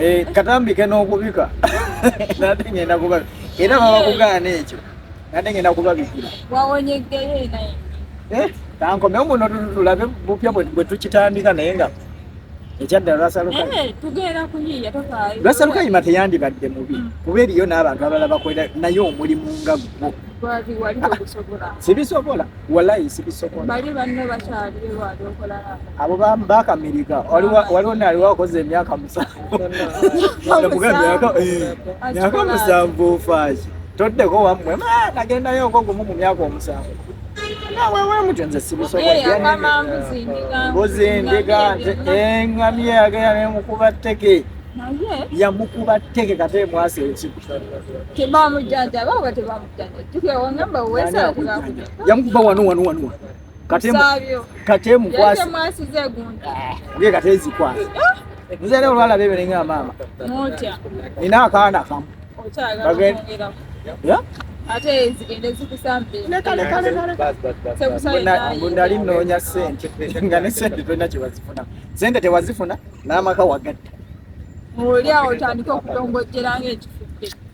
Eh, katambike n'okubika nate ngenda kuba era baba kugaana ekyo nate ngenda kubabikira eh, tankomewo muno tulabe bupya bwe tukitandika naye nga ekyadda lwasalukayima eh, teyandibadde mubi mm. kuba eriyo n'abantu abalala bakolera naye omulimu nga gwo sibisobola walayi sibisobola bali banno bakyali wali okola abo bakamirika waliwo naali wakoze emyaka musanvu eh, myaka musanvu ofaaki toddeko wammwe nagendayo oko gumu mu myaka omusanvu nawewemuti nze sibisobolambuzi ndiga nze engami yagenda nemukuba tteke yamukuba tteke kate mwasi ekikutebamujjanjaba oba tebamu yamukuba wano wano wano katemukwasa eh, katezikwasa eh? nze era olwala bebere nga maama nina akaana kamu nali noonya sente nga ne sente tolina kyewazifuna sente tewazifuna n'amaka wagadde olyawo otandika okutongojjera ngaekifudde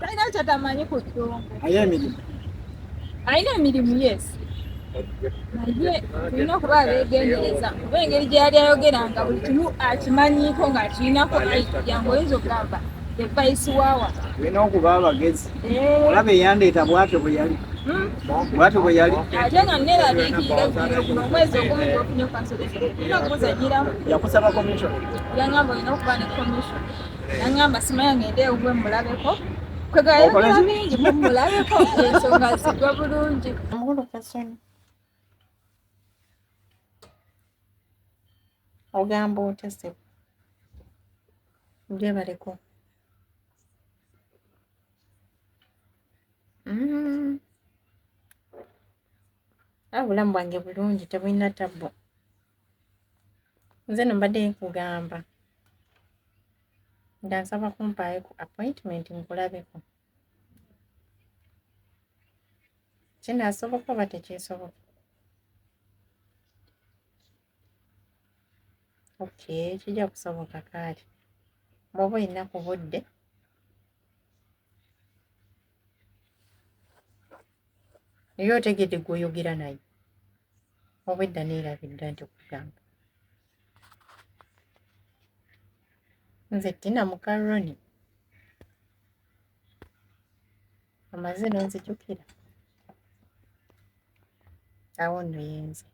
Talina kyatamanyi ku ddongo. Aye emirimu. Alina emirimu yes. Naye tulina okuba abeegendereza kuba engeri gye yali ayogeranga buli kimu akimanyiiko ng'akirinako ayiya ng'oyinza okugamba evayisi waawa. Tulina okuba abagezi. Eh. Olaba eyandeeta bwatyo bwe yali. Hmm? Bwatyo bwe yali. Ate nga nneeraliikirira bino guno omwezi ogumu gwofunye okansolekera. Tulina okuzanyiramu. Yakusaba commission. Yangamba olina okuba ne commission. nangamba simanya ngende ewuwe mulabeko kwegayogera bingi mumulabeko ensonga zigwa bulungi ogamba otya sebo gyebaleko mm. ah, obulamu bwange bulungi tebulina tabbo nze no mbadde nkugamba nga nsaba kumpaayo ku appointment nkulabeko kinaasoboka oba tekyesoboka okay kijja kusoboka kaali bwoba olina ku budde naye otegedde gwoyogera naye obwedda neerabidda nti okugamba nze tina mukaroni amaze nonzijukira awo nno yenze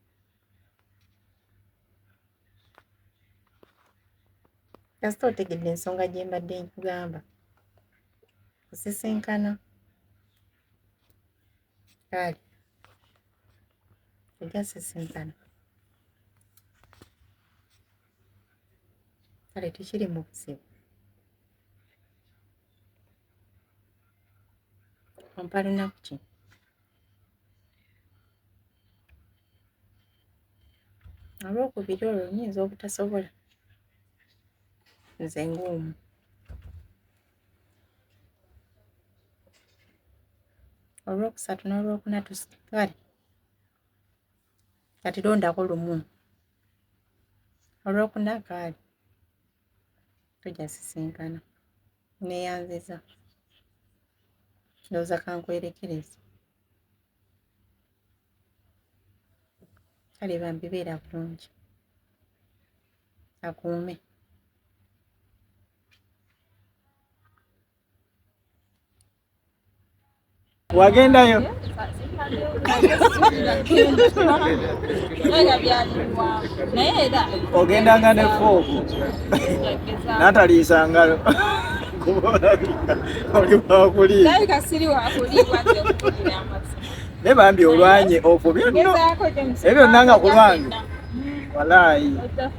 kasita otegedde ensonga gye mbadde nkugamba kusisinkana Kale egasisinkana kale tukiri mu buzibu ompa lunaku ki olwokubiri olwo nyinza obutasobola nze ng'omu olwokusatu n'olwokuna tusigale kati londako lumu olwokuna kaali tujja sisinkana neyanziza ndowooza kankwerekereza kale bambi beera bulungi akuume wagendayo ogendanga ne fooku nataliisa ngalo oli wakuliira naye bambi olwanye ofo byonna ebyo byonna nga kulwange walaayi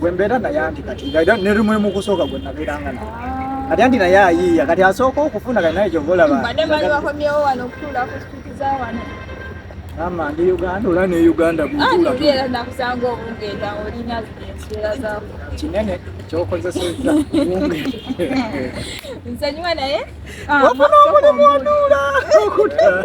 gwe mbeera naye anti kati ne lumu mu kusooka gwe nabeeranga naye kati anti naye ayiiya kati asooka okufuna kati naye kyova olaba ama ndi uganda ola ne uganda kinene kyokozeseza nsonyiwa naye ofuna omulimu onuula okutala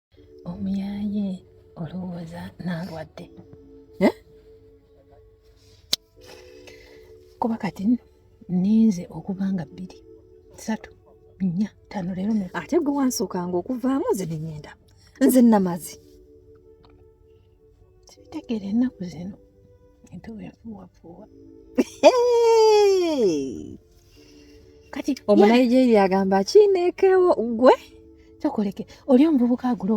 Omuyaaye olowooza nalwadde eh? kuba kati ninze okuva nga bbiri satu nnya tano leero ate gwe wansookanga okuvaamu nze nenyenda nze namazi sibitegera ennaku zino entuba enfuwafuwa kati omunigeria agamba kinekewo gwe kyokoleke oli omuvubuka agula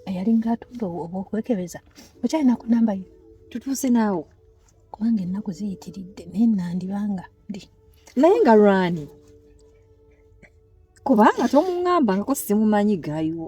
eyalinga atunda obwokwekebeza okyalina ku namba ye tutuuse naawo kubanga ennaku ziyitiridde naye nandibanga ndi naye nga lwani kubanga tomuŋambangako simumanyi gayiwo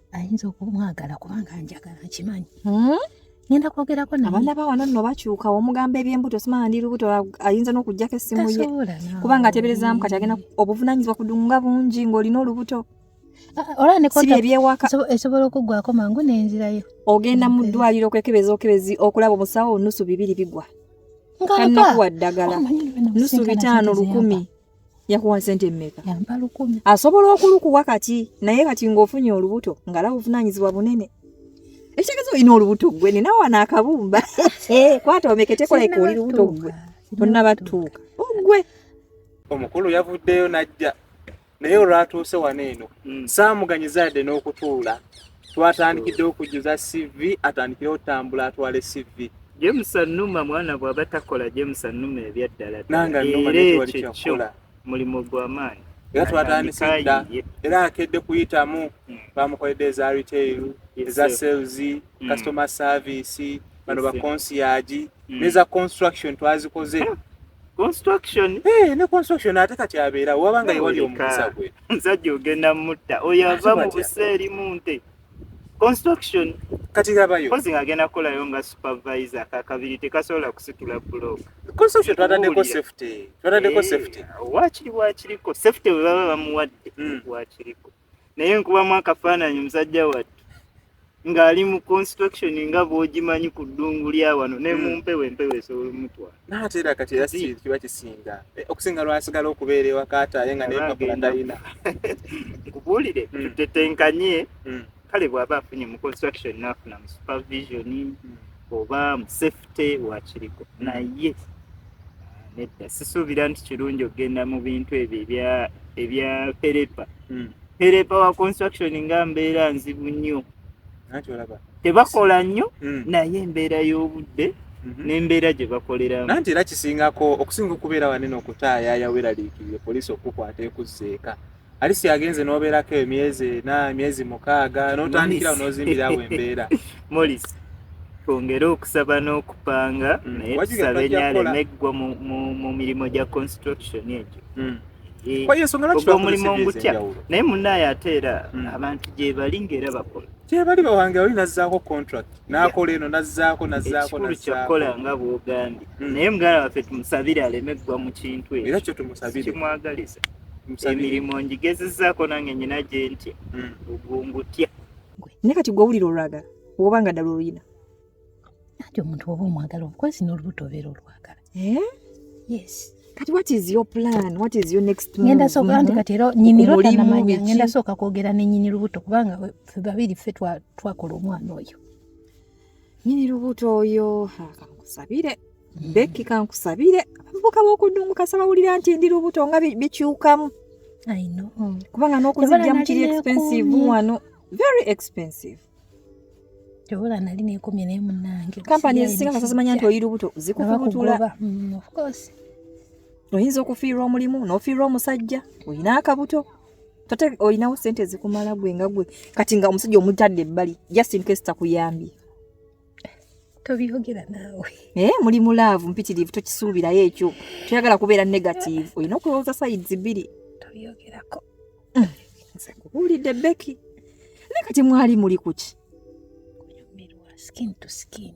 ayinza okumwagala kubanga njagala nkimanyi hmm? ngenda kwogerako naye abaana ba wano nno bakyuka omugamba ebyembuto simanya ndi lubuto ayinza n'okuggyako essimu ye kubanga ateberezaamu kati agenda obuvunanyizibwa kudunga bungi ng'olina olubuto ah, ah, olabsibi ebyewaka esobola okuggwako mangu n'enzirayo ogenda mu ddwaliro okwekebeza okebezi okulaba omusawo nusu bibiri bigwa kanakuwa ddagala oh, nusu bitaano lukumi yakuwa sente mmeka? Yamba lukumi. Asobola okulukuwa kati naye kati ng'ofunye olubuto nga lawo ovunaanyizibwa bunene. Ekitegeeza olina olubuto ggwe nina wano akabumba eh, kwata omeketeko like oli lubuto ggwe tonnabatuuka oggwe. Oh, Omukulu yavuddeyo n'ajja naye olwatuuse wano eno mm. saamuganyizaadde n'okutuula twatandikidde okujjuza cv atandikire otambula atwale cv james anuma mwana bwaba takola james anuma ebyaddala nangaekyo mulimu gwamaanyi era twatandise dda era akedde kuyitamu hmm. bamukoledde eza retail eza sales hmm. customer service bano bakonsiyaji hmm. neza construction twazikoze construction eh ne construction ate kati abeera waba nga yewali omukusa gwe mzajja ogenda mutta oyo ava mu buseeri munte construction kati labayo kozi ngagenda kukolayo nga supervisor kakabiri tekasobola kusitula block construction twatadeko safety twatadeko eh, safety wakiri wakiriko safety webaba bamuwadde hmm. wakiriko mm. naye nkubamu akafaananyi musajja wattu ng'ali mu construction nga bw'ogimanyi ku ddungu lya wano ne mu hmm. mpewo empewo esobola omutwala naate era kati era kiba kisinga eh, okusinga lwasigala okubeera ewakaata aye nga nempapula talina nkubuulire hmm. tutetenkanye hmm. kale bw'aba afunye mu construction n'afuna mu supervision oba mu safety wakiriko naye nedda sisuubira nti kirungi okugenda mu bintu ebyo ebya perepa hmm. perepa wa construction nga mbeera nzibu nnyo tebakola nnyo hmm. naye embeera y'obudde mhm. n'embeera gye bakoleramu nanti era kisingako okusinga okubeera wanene okutaayaya weraliikirire poliisi okukwata ekuzzeeka Alice yagenze n'obeerako emyezi ena emyezi mukaaga n'otandikira n'ozimbirawo embeera molis twongere okusaba n'okupanga mm. naye tusabe nyaleme eggwa mu mirimu gya construction egyo mm. eh, omulimu ngutya naye munaaye ate era mm. abantu gyebali ngaera bakola gyebali bawange oli nazzaako contract nakola eno nazzaako nazzaakokikulu kyakukola nga bwogambye naye muganda waffe tumusabire aleme eggwa mu kintu ekyo era kyo tumusabire kimwagaliza emirimu ngigezezaako nange nyina gye ntya hmm. ogungutya naye kati gwe owulira olwagala oba nga ddala oluyina anti omuntu oba omwagala omukwasi n'olubuto obeera olwagala eh? yes kati what is your plan what is your next move ngenda soka anti kati era nyini rota na manya ngenda soka kwogera ne nyini lubuto kubanga fe babiri fe twa twakola omwana oyo nyini lubuto oyo kankusabire Becky kankusabire abavubuka b'okudungu kasaba wulira nti ndi lubuto nga bikyukamu kubanga n'okuzijjamu kiri expensive wano very expensive kyobola nali nekomye naye munange kampani ezisinga nga sazimanya nti oyi lubuto zikukubutula mm, oyinza okufiirwa omulimu n'ofiirwa omusajja olina akabuto tate olinawo sente ezikumala gwe nga gwe kati nga omusajja omutadde ebbali just in case takuyambye tobyogera naawe naye muli mu laavu mpitirivu tokisuubirayo ekyo toyagala kubeera negative olina okulowooza sides bbiri tobyogerako mm. nkubuulidde beki naye kati mwali muli kuki skin to skin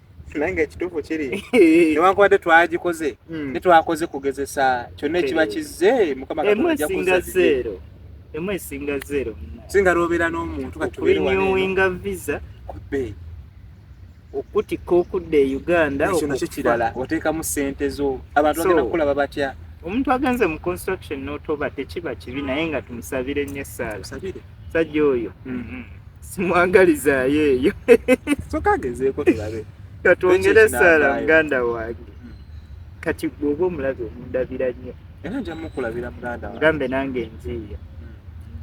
naye nga ekituufu kiri newankubadde twagikoze hmm. netwakoze kugezesa kyonna ekiba kizze mukama katondajakuzaero emu esinga zero singa lwobeera n'omuntu katuwinga visa kubbe okutika okudda e uganda ekyo nakyo kirala oteekamu sente zo abantu bagenda kukulaba batya omuntu agenze mu construction notoba tekiba kibi naye nga tumusabire nyo esaala musajja oyo mm-hmm. simwagalizaayo eyo sokagezeeko tulabe katwongere esaala muganda wange mm. kati gweoba omulabe omundabira nnyo era nja mukulabira muganda mugambe nange nziiya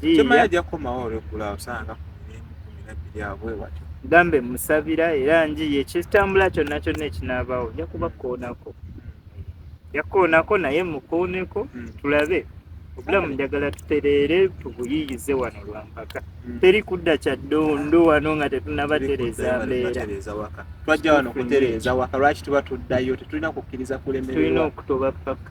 mm. njiya ajja kukomawo olwegula osanga kumirakumi abwe watyo gambe musabira era njiye kitambula kyonna kyonna ekinaabawo nja kuba kkoonako yakoonako naye mukooneko hmm. tulabe obulamu njagala tutereere tubuyiyize wano lwampaka hmm. teri kudda kya ddondo wano nga tetunabatereeza mbeera twajja wano kutereeza waka lwaki tuba tuddayo tetulina kukkiriza kulemererwa tulina okutoba paka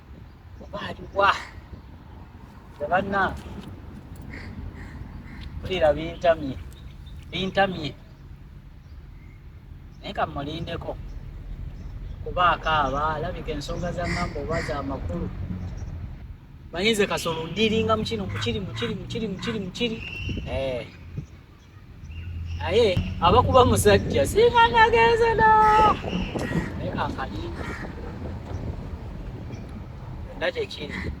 baliwa tebanange mpulira bintamye bintamye naye kamulindeko kuba akaaba alabika ensonga za ngamba oba za makulu manyize kasolo ndiringa mukino mukiri mukiri mukiri mukiri mukiri eh. naye abakuba musajja singa nagenze da naye kakali na kyekiri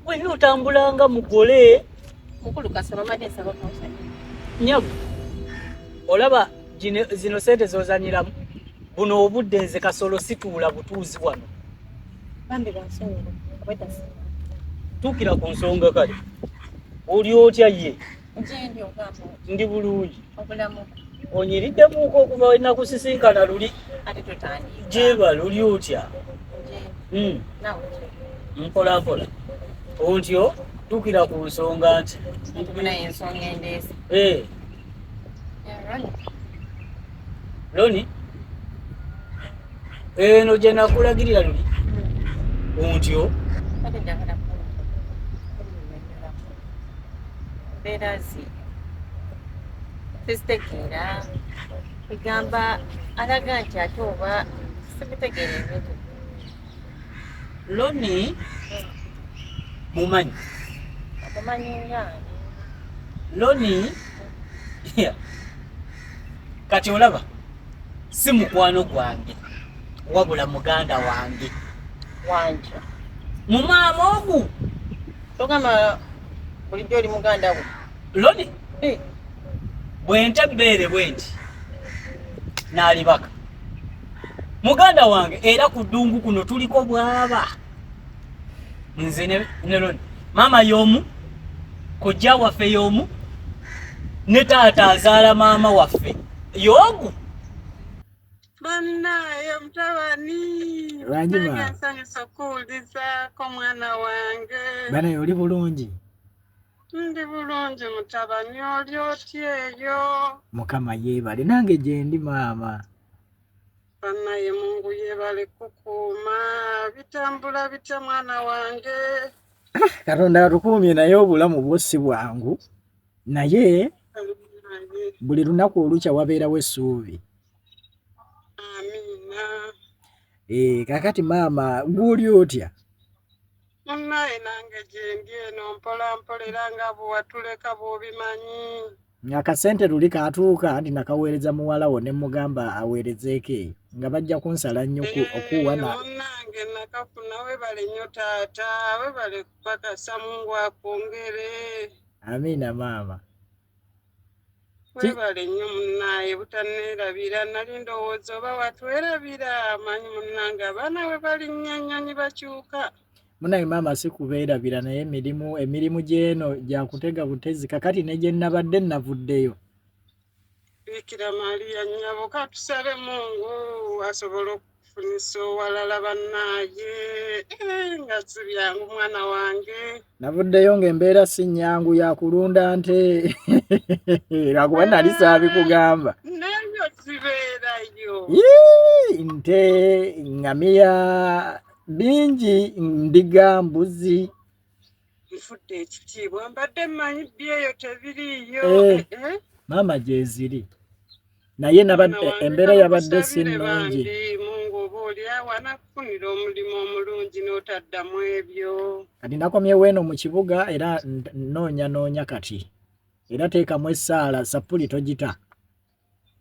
wena otambulanga mugole mukulu kasaba made saba kausanya nyabu olaba zino sente zozanyiramu buno obudde nze kasolo situula butuuzi wano bambi bansonyiwa obwetasi tuukira ku nsonga kale oli otya ye ndi bulungi onyiriddemuk okuva wenakusisinkana luli jeba luli otya hmm. mpolampola ontyo tuukira ku nsonga nti Loni eno gye nakulagirira luli kuntyo mbeera zi tezitegeera egamba alaga nti ate oba sibitegeera ebintu Loni mumanyi loni kati olaba si mukwano gwange wabula muganda wange wanja mumaama ogu togamba bulijjo oli muganda we loni bwente ebbeere bwenti nalibaka muganda wange era ku ddungu kuno tuliko bwaba nze neloni maama y'omu kojja waffe y'omu ne taata azaala maama waffe y'omu banaye mutabani nsanyusa okuwulizako omwana wange banaye oli bulungi ndi bulungi mutabani oli otyeyo mukama yeebale nange gyendi maama banaye mungu yebale kukuuma bitambula bitya mwana wange katonda atukuumye naye obulamu bwo si bwangu naye buli lunaku olukya wabeerawo essuubi eh, kakati maama gwoli otya munaye nange gyendi eno mpola mpola era nga bwewatuleka bwobimanyi ng'akasente luli kaatuuka nti nakaweereza muwala wo ne mmugamba aweerezeeko eyo nga bajja kunsala nnyuku eh, okuuwa na nange nakafuna webale nnyo taata webale kupakasa mungu akwongere amiina maama webale nnyo munaaye butaneerabira nali ndowooza oba watwerabira amanyi munange abaana we balinnyo ennyonyi bakyuka munaye maama sikubeerabira naye emirimu emirimu gy'eno gyakutega butezi kakati ne gye nnabadde nnavuddeyo bikira maria nyabo katusabe mungu asobola okufunisa owalala bannaaye eh, nga sibyangu mwana wange navuddeyo ng'embeera si nnyangu yakulunda nte lwakuba nali saabikugamba nayo zibeerayo nte ngamiya bingi ndiga mbuzi nfudde ekitiibwa mbadde manyi byeyo tebiriiyo eh, eh, eh. maama gyeziri naye nabadde embeera yabadde si nnungi mungu oba olyawo anakufunira omulimu omulungi n'otaddamu ebyo kati nakomyewo eno mu kibuga era noonya noonya kati era teekamu essaala sappuli togita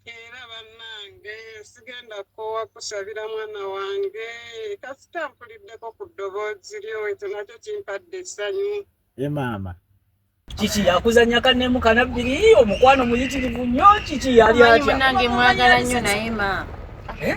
era bannange sigenda kukoowa kusabira mwana wange kasita mpuliddeko ku ddoboozi lyo ekyo nakyo kimpadde essanyu e maama kiki yakuzanya kanemu kanabbiri omukwano muyitirivu nnyo kiki yali atya munange mwagala nnyo naye maama eh?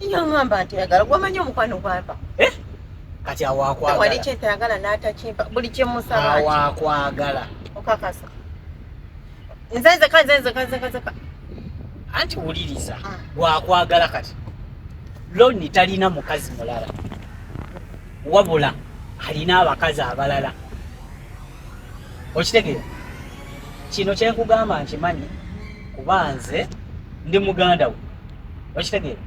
Yangamba nti ayagala wamanyi omukwano gwava. Eh? Kati awakwagala. Wali kyetayagala n'atakimpa buli kye musaba. Awakwagala. Okakasa. Nze nze kanze nze kanze kanze. Anti wuliriza. Ah. Wakwagala kati. Loni talina mukazi mulala. Wabula alina abakazi abalala. okitegeera kino kyenkugamba nkimanyi kuba nze ndi muganda we okitegeera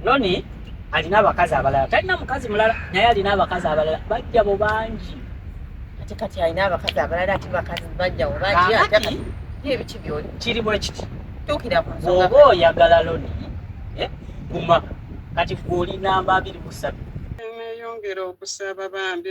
loni alina abakazi abalala talina mukazi mulala naye alina abakazi abalala bajja bo bangi ate kati alina abakazi abalala ati bakazi bajja bo bangi ati ebiki byoli kiri bwe kiti tukira ku nsonga oba oyagala loni eh, guma kati gwe oli namba abiri busatu emeyongera okusaba bambi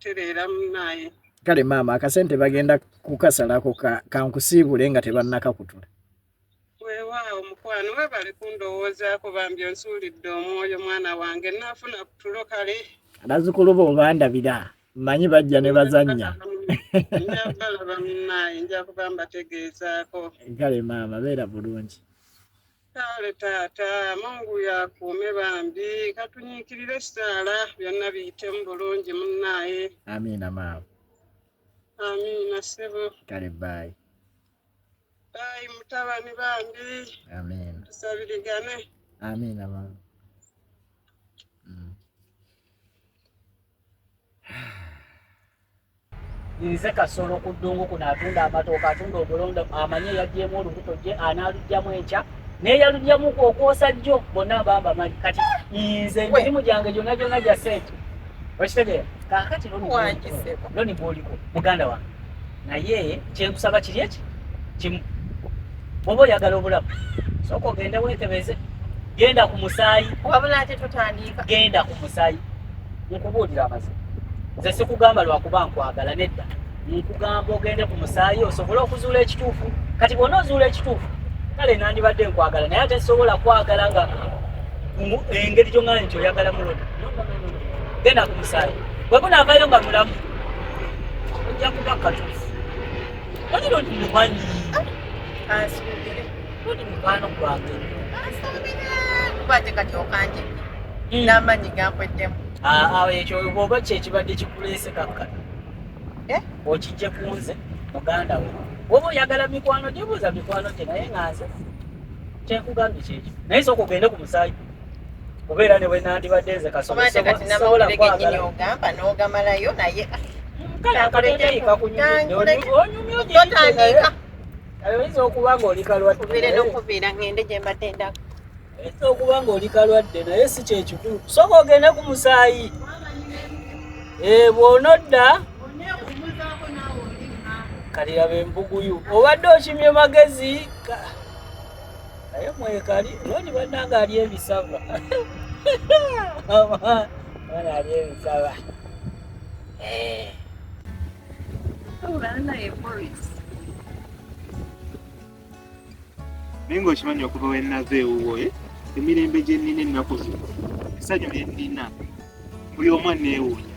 tereera munaye kale maama akasente bagenda kukasalako kankusiibule nga tebannakakutula wewaawo mukwano webale kundowoozaako bambi onsuulidde omwoyo mwana wange naafuna kutulo kale abazukulu bo obandabira manyi bajja ne bazannya njabalaba munaye nja kuba mbategeezaako kale maama beera bulungi Kale taata mungu yakuume bambi katunyiikirire ekisaala byonna biyitemu bulungi munnaaye amiina maama amiina ssebo kale baayi baayi mutabani bambi amiina tusabirigane amiina maama mm. nze kasolo ku ddungu kuno atunda amatooka atunda obulonda amanye yagyemu olubuto gye anaalugyamu enkya neyalugyamu okwosa jjo bonna bamba mali kati nze emirimu gyange gyonna gyonna gya sente okitegeera kakati loni bwoliko muganda wange naye kyenkusaba kiri eki kimu bwoba oyagala obulamu sooka ogende weekebeze genda ku musaayi wabula ate tutandiika genda ku musaayi nkubuulira amazima nze sikugamba lwakuba nkwagala nedda nkugamba ogende ku musaayi osobole okuzuula ekituufu kati bwona ozuula ekituufu kale nandibadde nkwagala naye ate sobola kwagala nga engeri gyongala nti oyagala muloda genda ku musaayi bwebunaavayo nga mulamu ojja kuba katuufu Wani lo ni wani. Kansubire. Lo ni mwana gwange. Kansubire. Kubate kati okanje. Mm. Namanyi gampweddemu. Ah, ah, ekyo oba kye kibadde kikuleese kakka. Eh? Okijje kunze muganda we. Woba oyagala mikwano gyebuuza mikwano gye naye nga nze. Kyekugambye kyekyo. Naye sooka ogende ku musaayi. kubeera ne bwe nandibadde nze kasobola kwagalaogamba n'ogamalayo naye oyinza okuba ng'oli kalwaddeokubeera ngende gye mbadde ndako oyinza okuba ng'oli kalwadde naye si kyekikulu soka ogende ku musaayi eh, bw'onodda kaliraba embuguyu obadde okimye magezi naye mwekali loni banange ali ebisava bana ali ebisava naye nga okimanyi okuva wenava ewuwo eh? emirembe gyenina ennaku zino essanyu lyenina buli omwana ewunya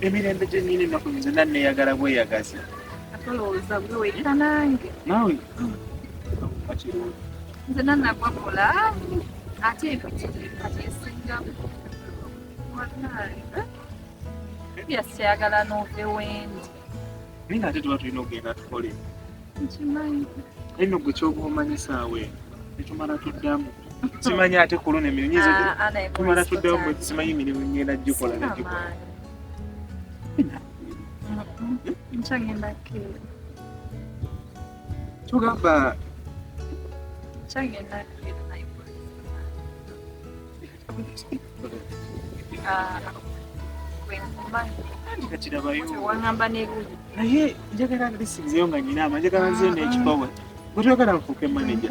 emirembe gyennyini ennaku zonna nneeyagala bweyagaza atolowooza gwe wekka nange naawe bakirungi nze nanagwa bulaamu ate ebitiripa byesingamu byasikyayagala nove wendi naye nga ate tuba tulina okugenda tukole nkimanyi naye nogwe kyoba omanyisaawe netumala tuddamu simanyi ate ku luno emirimu nyinza ah, ah, tumala tuddewo mwe simanyi emirimu ngenda gikola nagikola tugamba naye njagala lisinzeyo nga nyina ama njagala nzeyo nekipawe gwetwagala nfuuke manaja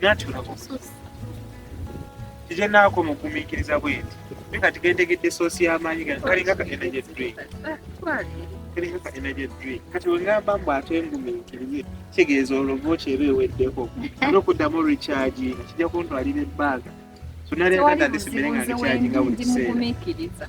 natulabo kikyenaako mugumiikiriza bwenti naye kati gentegedde soosi y'amaanyi gano kalinga ka energy drink kalinga ka energy drink kati wengamba mbu ate ngumiikirize kitegeeza olovo kyeba eweddeko nokuddamu recharginga kijja kuntwalira ebbanga sonalekatandisimbere nga recharginga buli kiseera